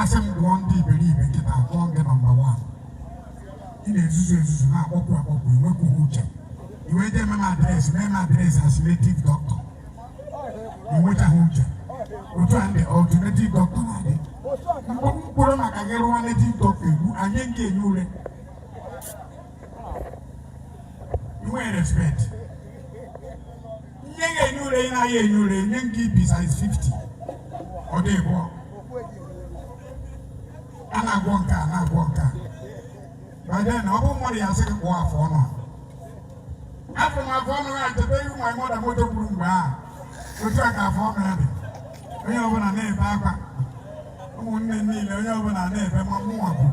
asị m gụọ ndị iberibe kịta a gụọ gị nọmba wan ị na-ezuzu ezuzu na-akpọpụ akpọpụ i nwekwughị uche i wee jee mee m adreesị mee m adreesị as native doctor i nwekwughị uche otu a ndị alternative doctor na-adị mkpụrụ maka gị rụwa native doctor egbu anyị nke enyi ure i nwe respect nye gị enyi ure ị naghị enyi ure nye nke ibi size 50 ọ dị ịbụọ a na-agwọ nke a na-agwọ nke a by then ọ bụ mmadụ ga-asị gị kpụọ afọ ọnụ a afụ m afọ ọnụ ya cheta ihu ma mmadụ moto gburu mgbe a otu a ka afọ ọnụ ya dị onye ọbụla na-ebe akwa ụmụnne m niile onye ọbụla na-ebe ma mụnwa bụ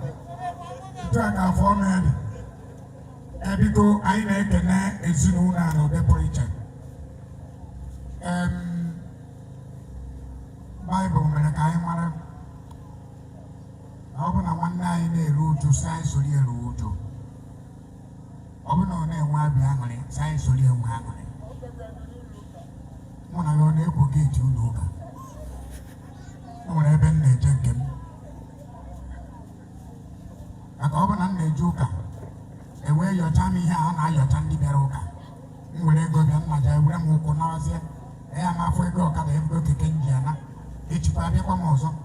etu a ka afọ ọnụ ya dị e biko anyị na-ekene ezinụlọ a na ụdị pụrụ iche baịbụl mere ka anyị mara na ọ bụ na nwanne anyị na-eru uju sị anyị soro eru uju ọ bụ na ọ na-enwe obi aṅụrị sị anyị soro enwe aṅụrị mụ na ya ọ na-ekwo geeti ụlọ ụka maka ọ bụ na m na-eje ụka e wee yọcha m ihe a na-ayọcha ndị bịara ụka m were ego bịa na m ja-ewere m ụkwụ nazie ya ma afọ ego ọkada maọbụ keke m ji ana echikwa abịakwa m ọzọ m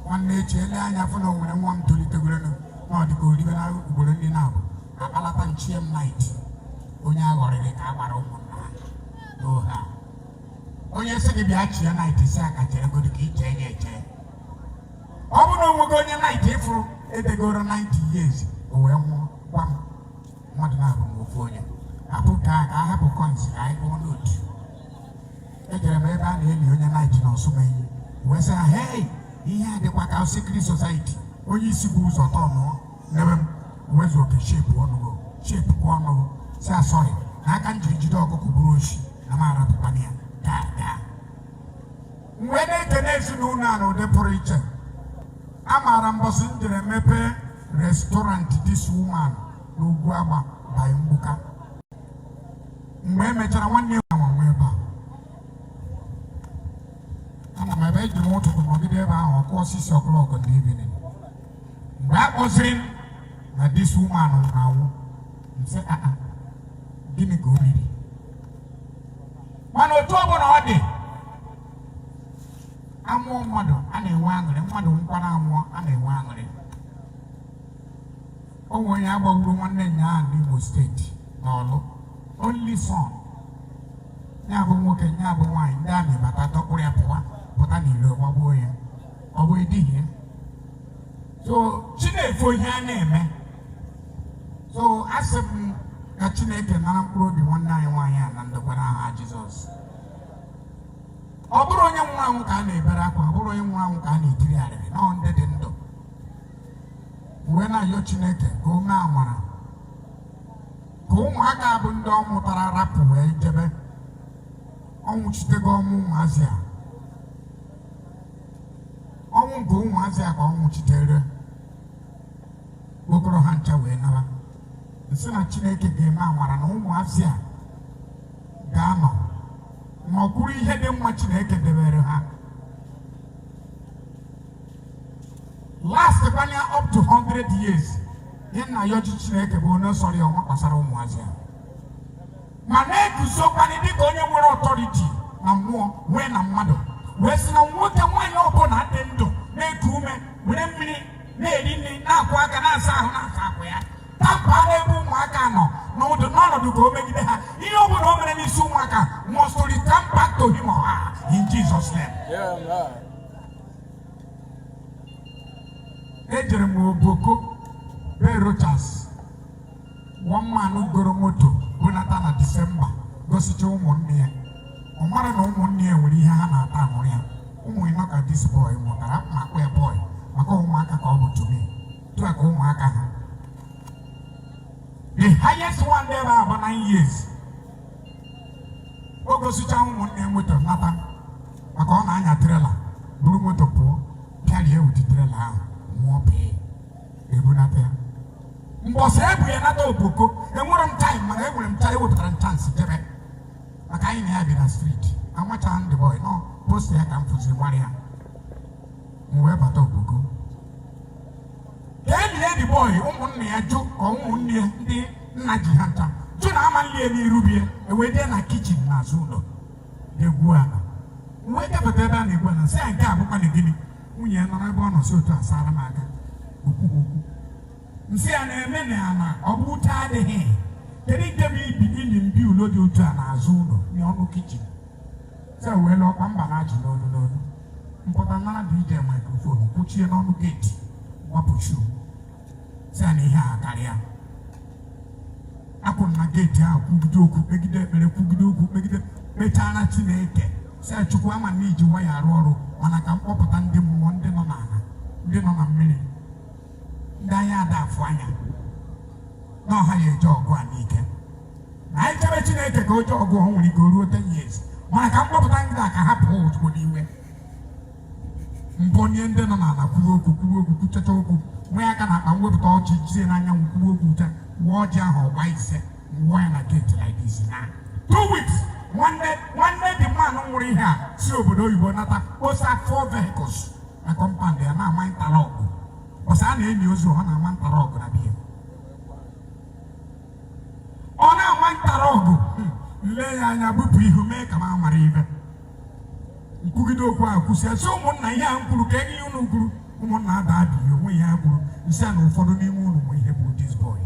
wee na-eche lee anya fụ na o nwere nwa m tolitegorenu na ọ dịka oribe na ugboro ndị na-abụ akpalata nchie m nait onye aghọrịrị ka a gbara ụmụnna ha n'ọha onye sị gị bịa chie nait sị ya ka cheregodo ka i chee ya eche ọ bụrụ na o nwego onye naịt ị fụrụ e degoro 90 years o wee nwụọ gwa m mmadụ na-abụ m ofu onye apụta ka a hapụ kọins ka anyị gụọ nootu ejere m ebe a na-eli onye naịt na ọsụmenyi wee sị ha hei ihe a dịkwa ka sikri sosaiti onye isi bu ụzọ tọọ ọnụ nebe m ụwaezuoke shepu ọnụ gị shepu kwa ọnụ gị sị ya sọrị na aka m jiri jide ọkụkọ bụrụ oshi na m arapụkwana ya m wee na-ekene ezinụlọ a na ụdị pụrụ iche a maara mbọsị m jere mepee restọrantị dis woman na ugwuagba by mgbuka mgbe e mechara nwanne ya nwa nwa ebe a ama m ebe eji m ụtụtụ nọgide ebe ahụ ruo 6 o'clock in the evening mgbe a kpọzịrị m na dis woman na-anwụ m sị aa gịnị ka o riri mana otu ọ bụla ọ dị amụọ mmadụ a na-enwe aṅụrị mmadụ nọkwara nwụọ a na-enwe aṅụrị o nwere onye agbagburu nwanne nya ahụ n'Imo steeti na ọ bụ only son ya bụ nwoke ya bụ nwaanyị ndị amị bata dọkpụrụ ya pụwa pụta n'iro gbagbuo ya ọ bụ edighị ya so chineke ihe a na-eme so asị m ka chineke nara mkpụrụ obi nwanne anyị nwaanyị a na ndokwa n'aha jizọs ọ bụrọ onye nwụrụ anwụ ka a na-ebere akwa ọ bụrọ onye nwụrụ anwụ ka a na-eriri arịrị na ọ ndị dị ndụ m wee na-ayọ chineke ka o mee amara ka ụmụaka bụ ndị ọ mụtara rapụ wee jebe ọ nwụchitego ọnwụ ụmụazị a ọnwụ nke ụmụazị a ka ọ nwụchitere o koro ha ncha wee nara m sị na chineke ga-eme amara na ụmụazị a ga-anọ n'okpuru ihe dị mma chineke debere ha last banye up to 100 years ihe m na-ayọ chineke bụ onye sọrọ ya ọ nwaa gbasara ụmụazị a ma na-eguzokwanị dịka onye nwere ọtọriti na mmụọ wee na mmadụ wee sị na nwoke nwaanyị ọbụla dị ndụ na-eku ume were mmiri na-eri nri na-akwọ aka na-asa ahụ na-asa akwa ya tamper n'ebe ụmụaka nọ n'ụdị n'ọnọdụ ka o megide ha ihe ọ bụla o mere n'isi ụmụaka must return back to him or her in Jesus name. ejere m Ogboko be Rochas one man ahụ goro moto bunata na disemba gosicha ụmụnne ya ọ marọ na ụmụnne ya nwere ihe ha na-ata amụrụ ya ụmụ ịnọ ka dis bọị mụtara ma akpọ ya bọị maka ụmụaka ka ọ bụ to me otu a ka ụmụaka ha the highest one there bụ about nine years o gosicha ụmụnne ya moto nata maka ọ na-anya trela buru moto pụọ pịarie ya with trela ahụ nwụọ pee ebunata ya mbọsị e bu ya nata Ogboko enwerọ m taim mana enwere m taim wepụtara m chansị jebe maka anyị na ya bi na striti amacharọ m dị bọị na ọ post ya ka m fụ wee mara ya m wee bata Ogboko ka e nie ya dị bọị ụmụnna ya jụ ka ụmụnne ya ndị nna ji ha ncha jụ na a ma-eli ya n'iru be ya e wee jee na kichin n'azụ ụlọ na-egwu ala wee jepụta ebe a na-egwu ala sị ya nke a bụkwa na gịnị nwunye ya nọrọ ebe ọ nọ si otu a sara m aka okwu okwu m sị ya na-eme na ya na ọ bụ uche adịghị kedu nke bụ ibi ili mbi ụlọ dị otu a n'azụ ụlọ n'ọnụ kichin se wee lụọ ọkwa mba na-achị n'olu n'olu m pụta nara DJ maikrofon kwụchie n'ọnụ geeti gbapụchi sị na ihe a karịa akwụrụ na geeti ahụ kwugide okwu kpegide ekpere kwugide okwu kpegide kpechaara chineke sị chukwu ama m na i ji nwayọ arụ ọrụ mana ka m kpọpụta ndị mmụọ ndị nọ n'ala ndị nọ na mmiri ndị anya ada afụ anya na ọ ha ga-eje ọgụ a n'ike na anyị chebe chineke ka o jee ọgụ ọ nwere ike o ruo 10 years mana ka m kpọpụta ndị a ka ha pụọ ozugbo n'iwe mbụ nye ndị nọ n'ala kwuo okwu kwuo okwu kwuchacha okwu wee aka n'akpa m wepụta ọjị jizie n'anyanwụ kwuo okwu cha waa ọjị ahụ ọ gbaa ise wụọ ya na geeti like this na two weeks nwanne nwanne the man ahụ nwụrụ ihe a si obodo oyibo nata kposa four vehicles na kọmpand ya na-ama ntara ọgụ ọsa a na-eni ozu ọ na-ama ntara ọgụ na biya ọ na-ama ntara ọgụ hmm, lee ya anya bupụ ihu mee ka m amara ibe m kwugide okwu ahụ kwụsịa sị ụmụnna ihe a m kwuru ka enye unu kwuru ụmụnna ada adịghị onwe ihe a kwuru m sị na ụfọdụ n'ime unu bụ ihe bụ this boy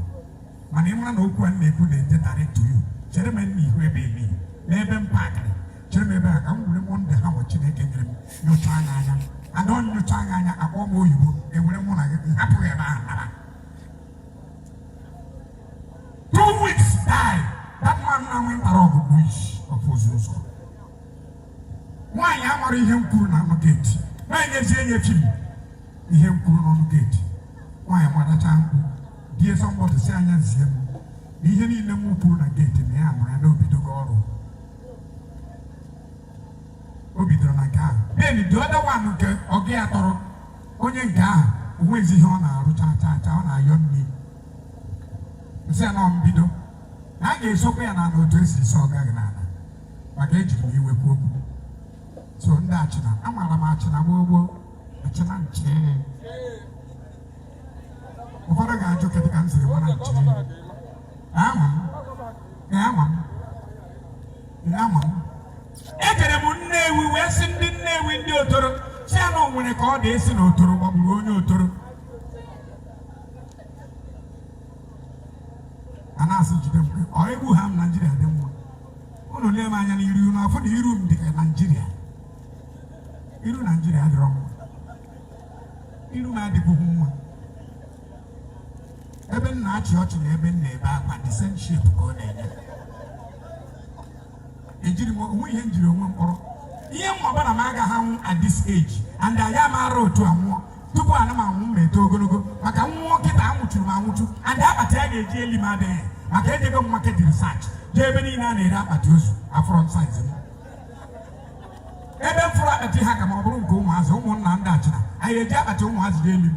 mana ị mara na okwu a m na-ekwu direct to you chere m nna ihu ebe ebe n'ebe m pakịrị chere m ebe a ka m were mụ ndị ha ma chineke nyere m nyocha anya anya ada nyocha anya anya akpọ m oyibo ewere mụ na gị hapụghị ebe ahụ nara Two weeks die. That man na nwe ntara ọgụ bụ isi ọfụ ozu ụzọ. Nwaanyị amara ihe m kwuru n'ọnụ geeti. Nwaanyị ezie nye chi ihe m kwuru n'ọnụ geeti. Nwaanyị gbadacha mkpu. Die somebody si anya zie m. Na ihe niile m kwuru na geeti na ya mara na o bidogo ọrụ. O bidoro na nke ahụ. Then the other one nke ọgụ ya tọrọ onye nke ahụ onwezi ihe ọ na-arụ chaa chaa chaa ọ na-ayọ nri m sị ya na ọ mbido na a ga-esokwa ya na ala otu esi esi ọga gị n'ala maka ejiri m iwe kwuo okwu so ndị Achina amaara m Achina gboo gboo Achina nche ụfọdụ ga-ajụ kedụ ka m siri mara nche ama m ama m ama m ejere m Nnewi wee sị ndị Nnewi ndị Otolo sị ha na o nwere ka ọ dị a sị na otoro gbagburu onye Otolo a na-asị jide mgbe ọ egbu ha m Naijiria dị mma ụnụ lee m anya n'iru unu afụ na iru m dị ka Naijiria iru Naijiria adịrọ mma iru m adịbụghị mma ebe m na-achị ọchị na ebe m na-ebe akwa the same shape ka ọ na-enye ejiri m onwe ihe njiri onwe m kpọrọ ihe m ma bụ na m agaghị anwụ at this age and aya m ara otu a nwụọ tupu ana m anwụ m eto ogologo maka m nwụọ kịta anwụchuru m anwụchu and akpati a ga-eji eli m adịghị maka ejego m market research jee ebe niile a na-ere akpati ozu afụrọ m size m ebe m fụrụ akpati ha ka m ọ bụrụ nke ụmụazị ụmụnna ndị Achịna anyị eji akpati ụmụazị ga-eli m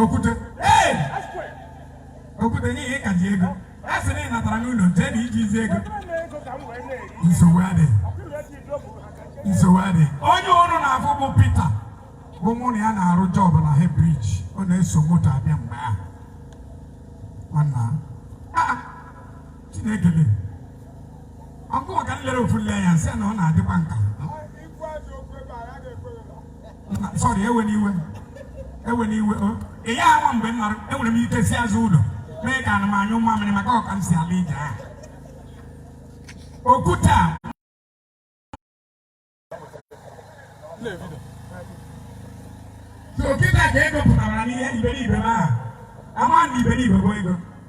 okwute ee okwute n'ihi ka ji ego a sị na ị natara n'ụlọ jee na i ji ezi ego nsogbu adị nsogbu adị onye ọrụ na-afụ bụ Pita bụ mụ na ya na-arụ job na Head Bridge ọ na-eso moto abịa mgbe ahụ nwanna ah, Chineke le ọkụ ọka nlere ofu nle anya sị na ọ na-adịkwa nka sorry ewena iwe ewena iwe ị ya awa mgbe m nọrọ enwere m ike si azụ ụlọ mee ka ana m anyụ mamịrị maka ọ ka m si ala ije ahụ okwute a so kịta ka ego pụtara n'ihe iberibe m ahụ ama na iberibe bụ ego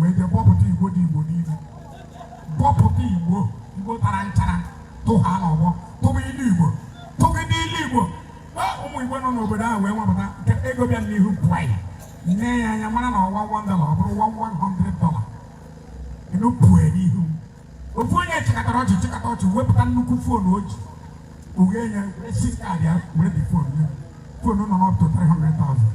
wee je bọpụta igbo dị igbo niile bọpụta igbo igbo tara nchara tụọ ha n'ọgbọ tụba ilu igbo tụba ndị ilu igbo ụmụ igbo nọ n'obodo ahụ wee nwapụta nke ego bịa n'ihu pụọ m ne ya anya mara na ọ wụ one dollar ọ bụrụ one one hundred dollar enu pụọ n'ihu ofu onye chịkọtara ọchị chịkọta ọchị wepụta nnukwu foonu o ji uwe ya esi kaadị ya were dị foonu ya foonu nọ up to 300,000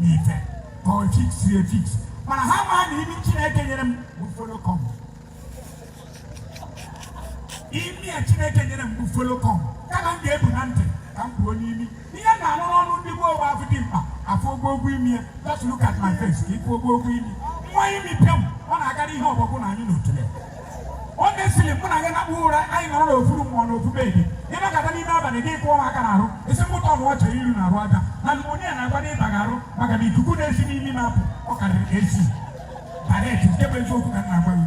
n'ife ka ọ fix efix mana ha maa na imi Chineke nyere m bụ follow come imi a Chineke nyere m bụ follow come kama m ga-ebu na ntị ka m buo n'imi ihe m na-anụ n'ọnụ ndị gboo bụ afụ dimkpa afụ ogbo ogwu imi ya just look at my face ka ị fụ ogbo ogwu imi nwa imi pịa m ọ na-agara ihe ọbọgwụ na anyị n'otule ọ na-esili mụ na gị na mkpụrụ ụra anyị nọrọ n'ofu room nọ na ofu bed ị nọkata n'ime abalị gị kụọ aka na arụ isi mkpụta ọnụ ọcha iru na arụ aja na pneumonia na-agwa na ịba arụ maka na ikuku na-esi n'imi na-apụ ọ karịrị ka AC but nke bụ eziokwu ka m na-agwa gị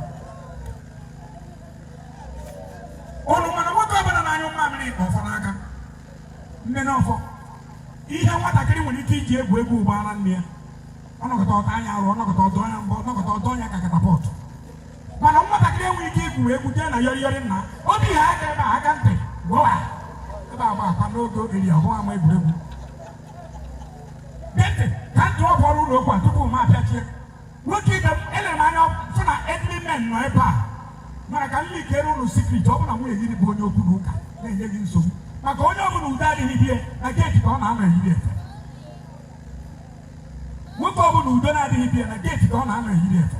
ụnụ ma na nwoke ọbụla na-anyụ mmamịrị jikwa ọfọ n'aka mana ọfọ ihe nwatakịrị nwere ike iji egwu egwu bụ ara nne ya ọ nọkata ọ tanye ya arụ ọ nọkata ọ dọnye ya mbọ ọ nọkata ọ dọnye ya ka catapult mana nwatakịrị enwe ike igwu egwu jee na yọrị yọrị nna obi ha aka ebe a aka ntị gụwa ebe agba akwa n'oge oge iri ọhụụ ama egwuregwu gee ntị ka m dropuoro unu okwu a tupu m apịachie nwoke ibe m elere m anya fụ na elderly men nọ ebe a mana ka m leakiere unu secret ọ bụ na nwunye gị bụ onye okwu na ụka na-enye gị nsogbu maka onye ọ bụla udo adịghị be ya na geeti ka ọ na-anọ eyiri efe nwoke ọ bụla udo na-adịghị be ya na geeti ka ọ na-anọ eyiri efe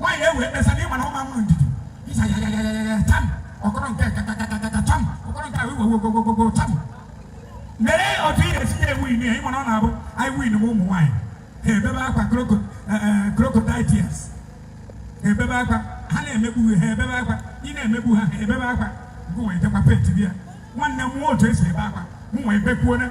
nwaanyị ewe ekpesa na ịma na ụma mụrụ ndidi ịsa ya ya ya ya ya tam ọkọrọ nke kakakakaka tam ọkọrọ nke ahụ iwewegogogogo tam mere otu ị ga-esi ya ewini ya ị ma na ọ na-abụ anyị win ụmụ nwaanyị ha ebebe akwa crocodile tears ha ebebe akwa ha na-emegbu ha ebebe akwa ị na-emegbu ha ha ebebe akwa nke wee jekwa pet bịa nwanne m mụọ otu esi ebe akwa m wee bekwuona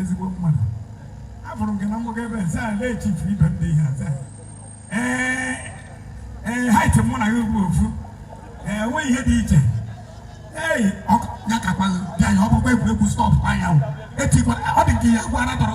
ezigbo mmadụ afụrụ gị na mgbago ebe eze a na-echifu ibe ndị ihe aza ee ee height mụ na gị bụ ofu ee enweghị ihe dị iche ei ya kakwa bịa ya ọ bụkwa egwuregwu stop anya etikwa ọ dị nke ya gwara tọrọ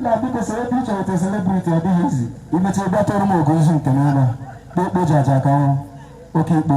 na biko soro ebe ị chọrọ te celebrity ọ dịghị easy i mecha ebe a tọrọ m ogo izu nke n'ụlọ kpokpo ji aja ka ọnwụ oke ikpo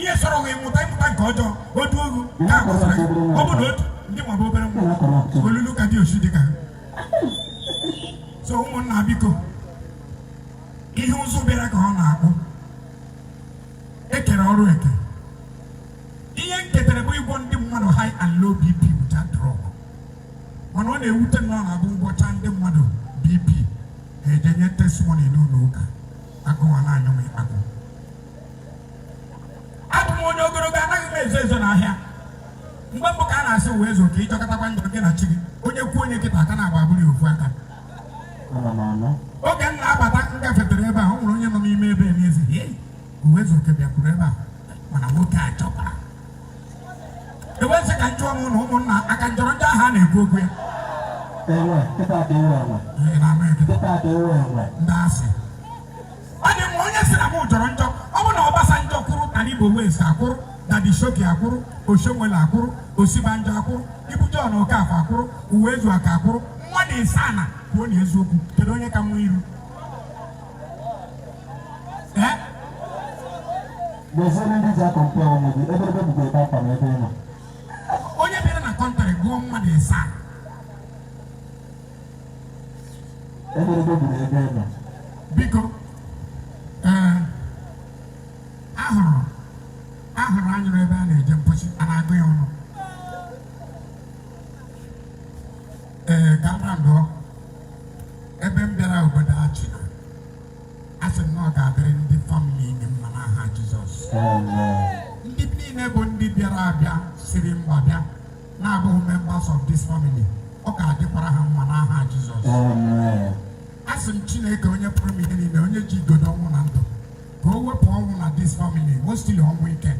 ihe sọrọ gị mụta ịmụta nke ọjọọ otu ogu ka agbasara gị ọ bụ na otu ndị nwabụ obere nwa olulu ka dị osi dị ka so ụmụnna biko ihe ụzụ bịara ka ọ na-akpụ e kere ọrụ eke ihe m ketere bụ ịgwọ ndị mmadụ high and low bp without drug mana ihe na-ewute m na ọ na-abụ m gwọcha ndị mmadụ bp ha ejenye testimony n'ụlọ ụka agụụ ana-anyụ m ịkpakwụ abụ m onye ogologo anaghị m ezo ezo n'ahịa mgbe mbụ ka a na-asị Uwaezuoke ị jọkatakwa njọ gị na chi gị onye kwuo onye kịta aka na-agba abụrụ ya ofu aka oge m na-abata m gafetere ebe a ọ nwere onye nọ n'ime ebe a na-asị "Hey, Uwaezuoke bịakwuru ebe a mana nwoke a jọkara Uwaezuoke njọ ọ bụ na ụmụnna a ka m jọrọ njọ ahụ a na-ekwu okwu ya Ewe, kịta dị ewe enwe. Ị na-ama ekele Kịta dị ewe enwe. ndị asị ọ dị mma onye si na m jọrọ njọ ọ bụ na Obasanjo kwụrụ Taribo West akwụrụ Daddy Showkey akwụrụ Oshiomhole akwụrụ Osibanjo akwụrụ Ibu John Okafor akwụrụ Uwaezuoke akwụrụ mmadụ ịsaa na kwuonụ eziokwu kedu onye ka mma iru ee N'ezie ndị ji akọ mpe ọnwụ gị ebe ebe bụkwa ebe akwa na ebe ị nọ. onye bịara na kọntrị gụọ mmadụ ịsaa biko ee ahụrụ ahụrụ anyụrụ ebe a na-eje mposi a na-agụ ya ọnụ ee kpakpando ebe m bịara obodo Achịna a sị m na ọ ga-adịrị ndị famili niile mma n'aha Jizọs ndị niile bụ ndị bịara abịa siri mba bịa na-abụghị members of this family ọ ga-adịkwara ha mma n'aha Jizọs asị m Chineke onye pụrụ ime ihe niile onye ji igodo ọnwụ na ndụ ka o wepụ ọnwụ na this family mostili ọnwụ ike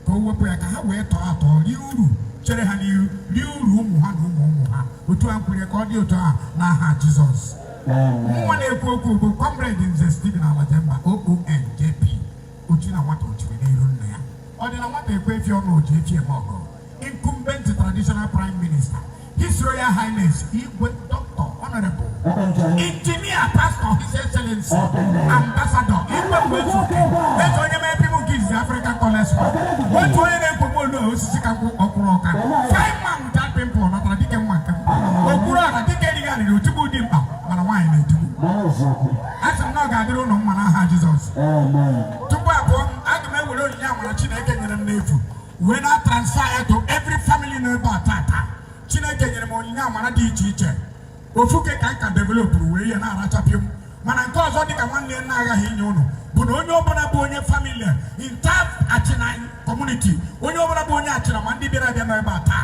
ka o wepụ ya ka ha wee tọọ atọ rie uru chere ha n'ihu rie uru ụmụ ha na ụmụ ụmụ ha otu e kwuru ka ọ dị otu a n'aha Jizọs nwa na-ekwu okwu bụ kọmrade Nze Stephen Alajemba OON JP ochi na nwata chiri n'iru nna ya ọ dị na nwata ekwe efi ọnụ o ji efi eme ọgọ incumbent traditional prime minister his royal highness igwe doctor honorable engineer pastor his excellency ambassador igwe Uwaezuoke eze onye mee pibu nke izizi african college otu onye na-ekwugbu olu osisi ka nkwụ ọkwụrụ ọka fine man without pimple natara dike nwa nke m okpuru ọra dike erighị arịrị otigbu dimkpa mana nwaanyị na-etigbu a sị m na ọ ga-adịrị ụnụ mma n'aha jizọs tupu abụọ aga m ewere onyinye amara chineke nyere m n'efu wee na transfer ya to every family nọ ebe a tata chineke nyere m onyinye amara dị iche iche ofuke ka nka developụrụ wee ihe na-arachapịa m mana nke ọzọ dịka nwanne ya na-aghaghị inye ụnụ bụ na onye ọbụla bụ onye famili entire achịna kọmuniti onye ọbụla bụ onye achịna ma ndị bịara abịa nọ ebe a taa